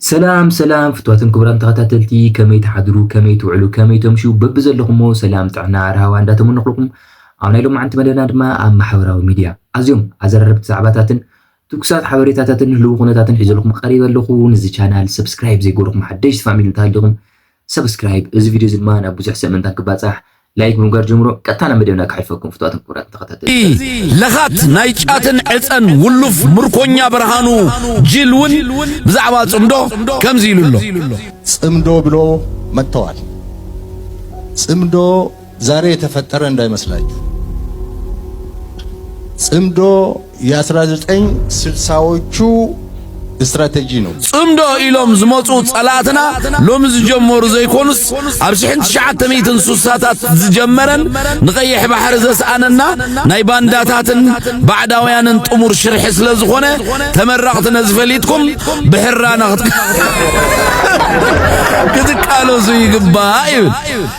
ሰላም ሰላም ፍትዋትን ክቡራን ተኸታተልቲ ከመይ ትሓድሩ ከመይ ትውዕሉ ከመይ ተምሹ በብዘለኹሞ ሰላም ጥዕና ራህዋ እንዳተመነኹልኩም ኣብ ናይ ሎማዓንቲ መደብና ድማ ኣብ ማሕበራዊ ሚድያ ኣዝዮም ኣዘራረብቲ ዛዕባታትን ትኩሳት ሓበሬታታትን ህልው ኩነታትን ሒዘልኩም ቀሪበ ኣለኹ። ንዚ ቻናል ሰብስክራይብ ዘይገበርኩም ሓደሽቲ ፋሚሊ እንተሃሊኹም ሰብስክራይብ እዚ ቪድዮ እዚ ድማ ናብ ብዙሕ ሰብ ምእንታን ክባጻሕ ላይክ ብምግባር ጀምሮ ቀጥታ ናብ መደብና ክሓልፈኩም ፍቱዋትን ክቡራትን ተኸታተልቲ። ለኻት ናይ ጫትን ዕጸን ውሉፍ ምርኮኛ ብርሃኑ ጅል ውን ብዛዕባ ጽምዶ ከምዚ ኢሉ ኣሎ። ጽምዶ ብሎ መጥተዋል ጽምዶ ዛሬ የተፈጠረ እንዳይመስላችሁ ጽምዶ የ1960ዎቹ ስትራቴጂ ነው። ጽምዶ ኢሎም ዝመጹ ጸላእትና ሎሚ ዝጀመሩ ዘይኮኑስ ኣብ ሽሕን ትሽዓተ ሚእትን ሱሳታት ዝጀመረን ንቀይሕ ባሕሪ ዘስኣነና ናይ ባንዳታትን ባዕዳውያንን ጥሙር ሽርሒ ስለ ዝኾነ ተመረቕቲ ነዚ ፈሊጥኩም ብሕራና ክትቃለሱ ይግባእ ይብል።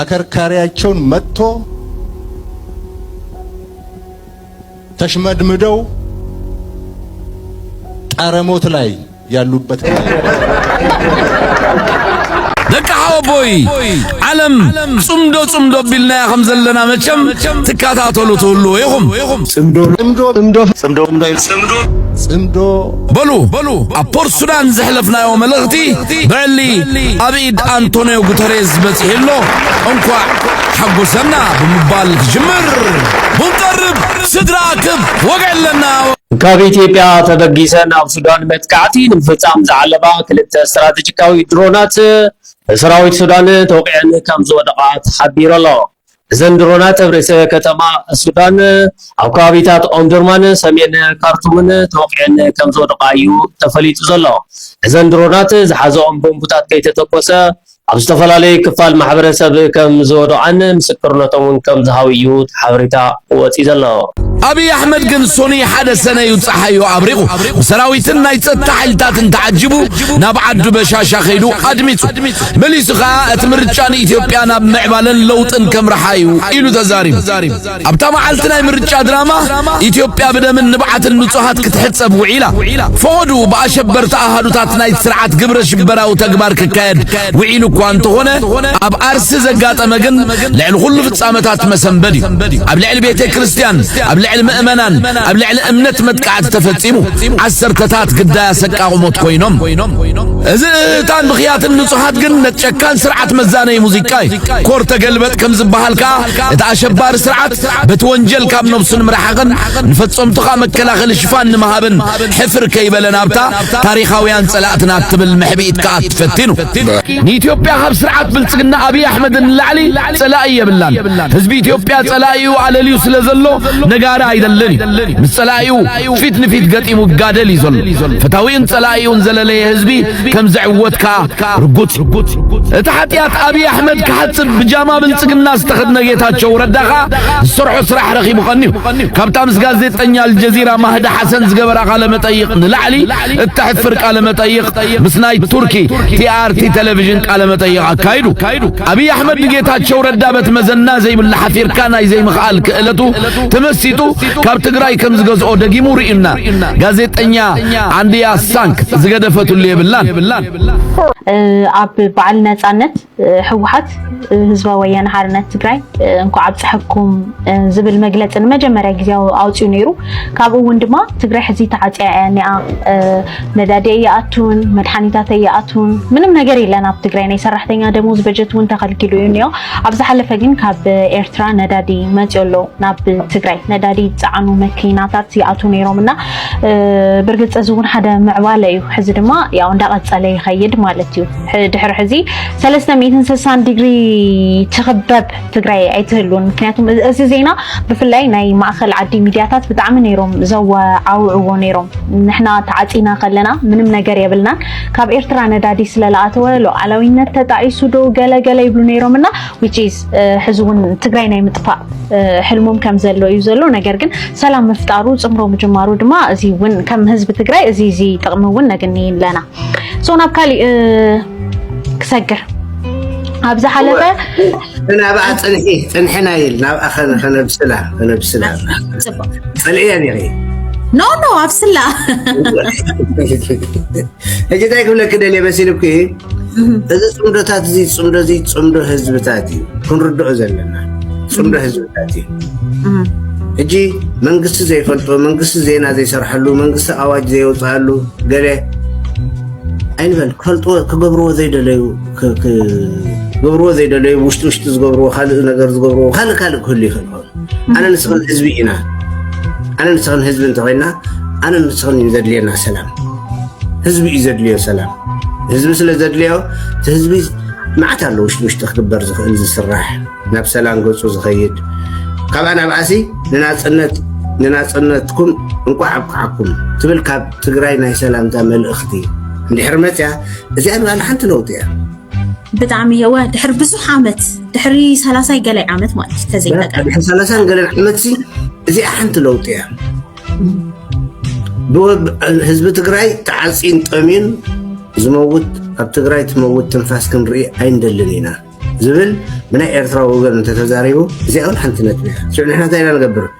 ኣከርካሪያቸውን መጥቶ ተሽመድምደው ጣረሞት ላይ ያሉበት ደቂ ሓወቦይ ዓለም ጽምዶ ጽምዶ ቢልናያ ከም ዘለና መቸም ትከታተሉ ትህልዎ ኢኹም ጽምዶ ጽምዶ ጽምዶ ጽምዶ ጽምዶ በሉ ኣብ ፖርት ሱዳን ዘሕለፍናዮ መልእኽቲ ብዕሊ ኣብ ኢድ ኣንቶንዮ ጉተሬዝ በፂሑ ኣሎ እንኳዕ ሓጎሰና ብምባል ክጅምር ሙንቀርብ ስድራ ክብ ወግዕለና ካብ ኢትዮጵያ ተበጊሰን ኣብ ሱዳን መጥቃዕቲ ንምፍፃም ዝዓለማ ክልተ ስትራቴጂካዊ ድሮናት ብሰራዊት ሱዳን ተወቂዐን ከም ዝወደቓ ተሓቢሩ ኣሎ። እዘን ድሮናት ኣብ ርእሰ ከተማ ሱዳን ኣብ ከባቢታት ኦምዱርማን ሰሜን ካርቱምን ተወቒዐን ከምዝወድቓ እዩ ተፈሊጡ ዘሎ። እዘን ድሮናት ዝሓዘኦም ቦምቡታት ከይተተኮሰ ኣብ ዝተፈላለዩ ክፋል ማሕበረሰብ ከምዝወድቓን ምስክርነቶም እውን ከምዝሃቡ እዩ እቲ ሓበሬታ ወፂኡ ዘሎ። ኣብይ ኣሕመድ ግን ሶኑይ ሓደ ሰነ እዩ ፀሓዩ ኣብሪቑ ብሰራዊትን ናይ ፀጥታ ሓይልታትን ተዓጂቡ ናብ ዓዱ በሻሻ ከይዱ ኣድሚፁ። መሊሱ ከኣ እቲ ምርጫ ንኢትዮጵያ ናብ ምዕባለን ለውጥን ከምርሓ እዩ ኢሉ ተዛሪቡ። ኣብታ መዓልቲ ናይ ምርጫ ድራማ ኢትዮጵያ ብደምን ንብዓትን ንጹሃት ክትሕጸብ ውዒላ። ፈቐዱ ብኣሸበርቲ ኣሃዱታት ናይ ስርዓት ግብረ ሽበራዊ ተግባር ክካየድ ውዒሉ እኳ እንተኾነ ኣብ ኣርሲ ዘጋጠመ ግን ልዕሊ ኩሉ ፍጻመታት መሰንበድ እዩ። ኣብ ልዕሊ ቤተ ክርስቲያን፣ ኣብ ልዕሊ ምእመናን፣ ኣብ ልዕሊ እምነት መጥቃዕቲ ተፈጺሙ ዓሰርተታት ግዳይ ኣሰቃቑሞት ኮይኖም እዚ እታን ብኽያትን ንጹሓት ግን ነቲ ጨካን ስርዓት መዛነይ ሙዚቃ እዩ ኮር ተገልበጥ ከም ዝበሃል ከዓ እቲ ኣሸባሪ ስርዓት በቲ ወንጀል ካብ ነብሱ ንምርሓቕን ንፈጸምቱ ከዓ መከላኸሊ ሽፋን ንምሃብን ሕፍር ከይበለ ናብታ ታሪኻውያን ጸላእትና እትብል መሕብኢት ከዓ ትፈቲኑ ንኢትዮጵያ ካብ ስርዓት ብልጽግና ኣብዪ ኣሕመድ ንላዕሊ ጸላኢ የብላን ህዝቢ ኢትዮጵያ ጸላኢኡ ኣለልዩ ስለ ዘሎ ነጋሪ ኣይደልን እዩ ምስ ጸላኢኡ ጸላኢኡ ፊት ንፊት ገጢሙ ይጋደል እዩ ዘሎ። ፈታዊኡን ጸላኢኡን ዘለለየ ህዝቢ ከም ዝዕወት ከኣ ርጉጽ እዩ። እቲ ሓጢኣት ኣብይ ኣሕመድ ክሓጽብ ብጃማ ብልጽግና ዝተኸድነ ጌታቸው ረዳ ከኣ ዝሰርሖ ስራሕ ረኺቡ ቀንዩ። ካብታ ምስ ጋዜጠኛ ኣልጀዚራ ማህዲ ሓሰን ዝገበራ ቃለ መጠይቕ ንላዕሊ እተሕፍር ቃለ መጠይቕ ምስ ናይ ቱርኪ ቲኣርቲ ቴሌቪዥን ቃለ መጠይቕ ኣካይዱ። ኣብይ ኣሕመድ ንጌታቸው ረዳ በቲ መዘና ዘይብሉ ሓፊርካ ናይ ዘይምኽኣል ክእለቱ ተመሲጡ ካብ ትግራይ ከም ዝገዝኦ ደጊሙ ርዩና ጋዜጠኛ ዓንድያ ሳንክ ዝገደፈትሉ የብላን ኣብ በዓል ነፃነት ህወሓት ህዝባዊ ወያነ ሓርነት ትግራይ እንኳዕ ኣብፀሐኩም ዝብል መግለፂ ንመጀመርያ ግዜ ኣውፅኡ ነይሩ ካብኡ እውን ድማ ትግራይ ሕዚ ተዓፅያ እያ ኒኣ ነዳዲ እያኣቱን መድሓኒታት እያኣቱን ምንም ነገር የለን ኣብ ትግራይ ናይ ሰራሕተኛ ደሞዝ በጀት እውን ተኸልኪሉ እዩ ኒኦ ኣብ ዝሓለፈ ግን ካብ ኤርትራ ነዳዲ መፅዮ ኣሎ ናብ ትግራይ ነዳዲ ዝፀዓኑ መኪናታት ይኣትው ነይሮም እና ብርግፅ እዚ እውን ሓደ ምዕባለ እዩ። ሕዚ ድማ ያው እንዳቀፀለ ይኸይድ ማለት እዩ። ድሕሪ ሕዚ ሰለስተ ሚእትን ስልሳን ዲግሪ ትኽበብ ትግራይ ኣይትህሉን። ምክንያቱም እዚ ዜና ብፍላይ ናይ ማእኸል ዓዲ ሚዲያታት ብጣዕሚ ነይሮም ዘወዓውዕዎ ነይሮም። ንሕና ተዓፂና ከለና ምንም ነገር የብልናን ካብ ኤርትራ ነዳዲ ስለለኣተወ ሉዓላዊነት ተጣዒሱ ዶ ገለ ገለ ይብሉ ነይሮም እና which is ሕዚ እውን ትግራይ ናይ ምጥፋእ ሕልሞም ከም ዘሎ እዩ ዘሎ ነገር ግን ሰላም ምፍጣሩ ፅምሮ ምጅማሩ ድማ እዚ እውን ከም ህዝቢ ትግራይ እዚ እዚ ጥቕሚ እውን ነግኒ ኣለና ሶ ናብ ካሊእ ክሰግር ኣብ ዝሓለፈ ናብኣ ፅንሒ ፅንሒ ናይል ናብኣ ከነብስላ ከነብስላ ፅልእያ ኔረ ኖ ኖ ኣብስላ ሕጂ እንታይ ክብለኪ ደልየ መሲልኩ እዚ ፅምዶታት እዚ ፅምዶ እዚ ፅምዶ ህዝብታት እዩ ክንርድኦ ዘለና ፅምዶ ህዝብታት እዩ ሕጂ መንግስቲ ዘይፈልጦ መንግስቲ ዜና ዘይሰርሐሉ መንግስቲ ኣዋጅ ዘየውፅኣሉ ገለ ኣይንበል ክፈልጥዎ ክገብርዎ ዘይደለዩ ክገብርዎ ዘይደለዩ ውሽጢ ውሽጢ ዝገብርዎ ካልእ ነገር ዝገብርዎ ካልእ ካልእ ክህሉ ይኽእል ኸውን ኣነ ንስኽን ህዝቢ ኢና ኣነ ንስኽን ህዝቢ እንተኮይና ኣነ ንስኽን እዩ ዘድልየና ሰላም ህዝቢ እዩ ዘድልዮ ሰላም ህዝቢ ስለ ዘድልዮ እቲ ህዝቢ መዓት ኣሎ ውሽጢ ውሽጢ ክግበር ዝኽእል ዝስራሕ ናብ ሰላም ገፁ ዝኸይድ ካብኣ ናብኣሲ ንናፅነት ንናፅነትኩም እንቋዕ ኣብቅዓኩም ትብል ካብ ትግራይ ናይ ሰላምታ መልእኽቲ እንድሕር መፅያ እዚኣ ንባዕላ ሓንቲ ለውጢ እያ ብጣዕሚ የወ ድሕሪ ብዙሕ ዓመት ድሕሪ ሰላሳይ ገላይ ዓመት ማለት እዩ ተዘይጠቀድሕሪ ሰላሳን ገለን ዓመት ሲ እዚኣ ሓንቲ ለውጢ እያ ህዝቢ ትግራይ ተዓፂን ጠሚን ዝመውት ኣብ ትግራይ ትመውት ትንፋስ ክንርኢ ኣይንደልን ኢና ዝብል ብናይ ኤርትራ ወገን እንተተዛሪቡ እዚኣ እውን ሓንቲ ነጥቢ እያ ሽዑ ንሕና እንታይ ኢና ንገብር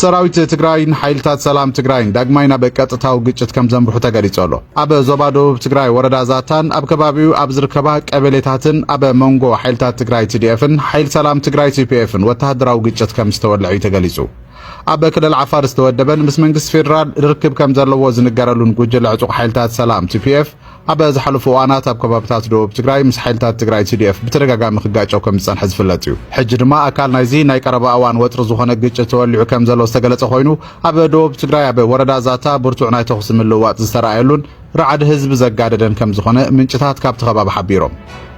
ሰራዊት ትግራይን ሓይልታት ሰላም ትግራይን ዳግማይ ናብ ቀጥታዊ ግጭት ከም ዘምርሑ ተገሊጹ ኣሎ። ኣብ ዞባ ደቡብ ትግራይ ወረዳ ዛታን ኣብ ከባቢኡ ኣብ ዝርከባ ቀበሌታትን ኣብ መንጎ ሓይልታት ትግራይ ቲዲኤፍን ሓይል ሰላም ትግራይ ቲፒኤፍን ወተሃደራዊ ግጭት ከም ዝተወልዐ እዩ ተገሊጹ። ኣብ ክልል ዓፋር ዝተወደበን ምስ መንግስቲ ፌዴራል ርክብ ከም ዘለዎ ዝንገረሉን ጉጅለ ዕጡቕ ሓይልታት ሰላም ቲፒኤፍ ኣብ ዝሓለፉ እዋናት ኣብ ከባብታት ደቡብ ትግራይ ምስ ሓይልታት ትግራይ ቲዲኤፍ ብተደጋጋሚ ክጋጨው ከም ዝጸንሐ ዝፍለጥ እዩ። ሕጂ ድማ ኣካል ናይዚ ናይ ቀረባ እዋን ወጥሪ ዝኾነ ግጭት ተወሊዑ ከም ዘሎ ዝተገለጸ ኮይኑ ኣብ ደቡብ ትግራይ ኣብ ወረዳ ዛታ ብርቱዕ ናይ ተኹሲ ምልውዋጥ ዝተረኣየሉን ራዕዲ ህዝቢ ዘጋደደን ከም ዝኾነ ምንጭታት ካብቲ ከባቢ ሓቢሮም።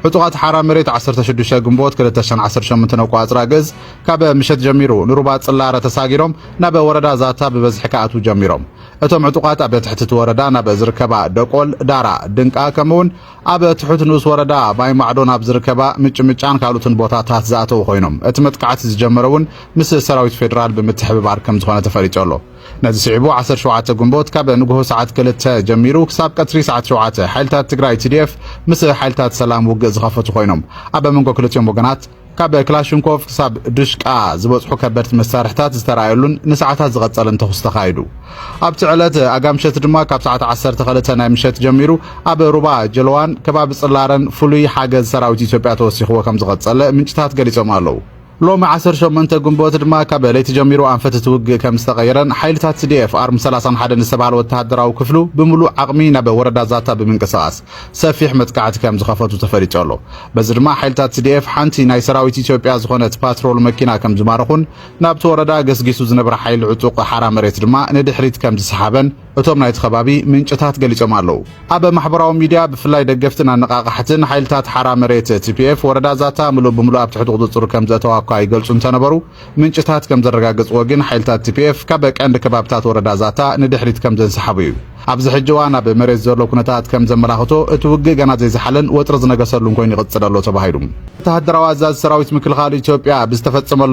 ዕጡቓት ሓራ መሬት 16 ግንቦት 2018 ነቋጽራ ግእዝ ካብ ምሸት ጀሚሩ ንሩባ ጽላረ ተሳጊሮም ናብ ወረዳ ዛታ ብበዝሒ ክኣትዉ ጀሚሮም። እቶም ዕጡቓት ኣብ ትሕቲ እቲ ወረዳ ናብ ዝርከባ ደቆል፣ ዳራ፣ ድንቃ ከምኡውን ኣብ ትሑት ንኡስ ወረዳ ማይማዕዶ ናብ ዝርከባ ምጭምጫን ካልኦትን ቦታታት ዝኣተዉ ኮይኖም እቲ መጥቃዕቲ ዝጀመረ እውን ምስ ሰራዊት ፌዴራል ብምትሕብባር ከም ዝኾነ ተፈሊጡ ኣሎ። ነዚ ስዒቡ ዓሰርተ ሸውዓተ ግንቦት ካብ ንግሆ ሰዓት ክልተ ጀሚሩ ክሳብ ቀትሪ ሰዓት ሸውዓተ ሓይልታት ትግራይ፣ TDF፣ ምስ ሓይልታት ሰላም ውግእ ዝኸፈቱ ኮይኖም ኣብ መንጎ ክልቲኦም ወገናት ካብ ክላሽንኮቭ ክሳብ ድሽቃ ዝበጽሑ ከበድቲ መሳርሕታት ዝተራእየሉን ንሰዓታት ዝቐጸለን ተኹስ ተኻይዱ። ኣብቲ ዕለት ኣጋምሸት ድማ ካብ ሰዓት 12 ናይ ምሸት ጀሚሩ ኣብ ሩባ ጀልዋን ከባቢ ጽላረን ፍሉይ ሓገዝ ሰራዊት ኢትዮጵያ ተወሲኽዎ ከም ዝቐጸለ ምንጭታት ገሊጾም ኣለዉ። ሎሚ 18 ግንቦት ድማ ካብ ለይቲ ጀሚሩ ኣንፈት እቲ ውግእ ከም ዝተቐየረን ሓይልታት ሲዲኤፍ ኣርሚ 31 ዝተባህለ ወተሃደራዊ ክፍሉ ብምሉእ ዓቕሚ ናብ ወረዳ ዛታ ብምንቅስቓስ ሰፊሕ መጥቃዕቲ ከም ዝኸፈቱ ተፈሊጡ ኣሎ። በዚ ድማ ሓይልታት ትዲኤፍ ሓንቲ ናይ ሰራዊት ኢትዮጵያ ዝኾነት ፓትሮል መኪና ከም ዝማረኹን ናብቲ ወረዳ ገስጊሱ ዝነበረ ሓይሊ ዕጡቕ ሓራ መሬት ድማ ንድሕሪት ከም ዝሰሓበን እቶም ናይቲ ከባቢ ምንጭታት ገሊጾም ኣለዉ። ኣብ ማሕበራዊ ሚድያ ብፍላይ ደገፍትን ኣነቓቓሕትን ሓይልታት ሓራ መሬት፣ ቲፒኤፍ፣ ወረዳ ዛታ ምሉእ ብምሉእ ኣብ ትሕቲ ቁጽጽሩ ከም ዘእተዋ እኳ ይገልጹ እንተነበሩ፣ ምንጭታት ከም ዘረጋገጽዎ ግን ሓይልታት ቲፒኤፍ ካብ ቀንዲ ከባብታት ወረዳ ዛታ ንድሕሪት ከም ዘንሰሓቡ እዩ። ኣብዚ ሕጂ እዋን ኣብ መሬት ዘሎ ኩነታት ከም ዘመላኽቶ እቲ ውግእ ገና ዘይዘሓለን ወጥሪ ዝነገሰሉን ኮይኑ ይቕጽል ኣሎ ተባሂሉ። ወተሃደራዊ ኣዛዚ ሰራዊት ምክልኻል ኢትዮጵያ ብዝተፈጸመሉ